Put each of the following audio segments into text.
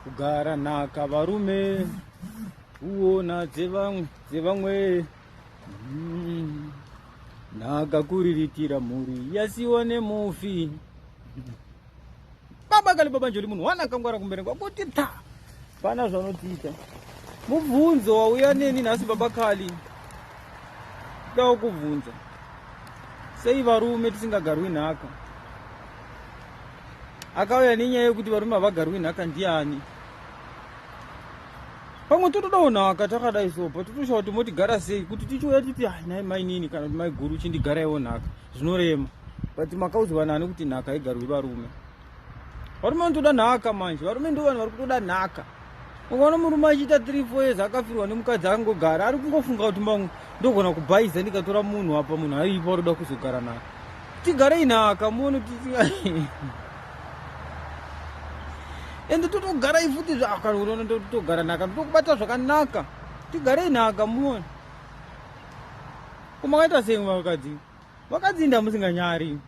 Kugara nhaka varume kuona dzevamwe dzevamwe mm. nhaka kuriritira mhuri yasiwa nemufi baba kale baba njoli munhu wana kangwara kumbere kwakuti ta pana zvanotiita mubvunzo wauya neni nhasi baba kali dawo kubvunza sei varume tisingagarwi nhaka akauya nenyaya yekuti varume havagarwi nhaka ndiani pamwe totodawo nhaka takadai so but totosha kuti motigara sei kuti tichiuya titi ah, nai mainini kana kuti maiguru uchindigaraiwo nhaka zvinorema but makaudzwa nani kuti nhaka haigarwi varume varume vanotoda nhaka manje varume ndo vanhu vari kutoda nhaka ukaona murume achiita 3 4 years akafirwa nemukadzi angogara ari kungofunga kuti mamwe ndogona kubhaiza ndikatora munhu apa munhu aiipa roda kuzogara naye tigarei nhaka muone kuti ende totogarai futi zvakana unoona totogara nhaka tokubata zvakanaka tigarei nhaka muone kumakaita sei vakadzi vakadzi inda musinganyari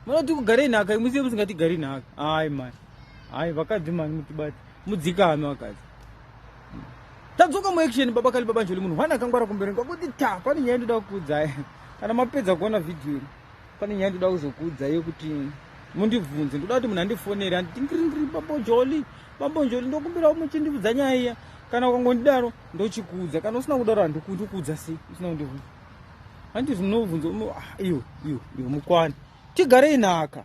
munoti kugarei nhaka imusiye musingatigari nhaka ai mani ai vakadzi mani mutibati mudzikame vakadzi tadzoka muaction baba kali baba njoli munhu hwana akangwara kumberi kwakuti ta pane nyaya ndoda kukuudzai kana mapedza kuona vhidhiyo iri pane nyaya ndoda kuzokuudzai yekuti mundibvunze ndoda kuti munhu andifonere anditi ngringri baba njoli baba njoli ndokumbira muchindiudza nyaya iya kana ukangondidaro ndochikuudza kana usina kudaro handikundikuudza sei usina kundibvunza Hanti zvinobvunzo ah, iyo iyo iyo mukwani. Tigarei naka.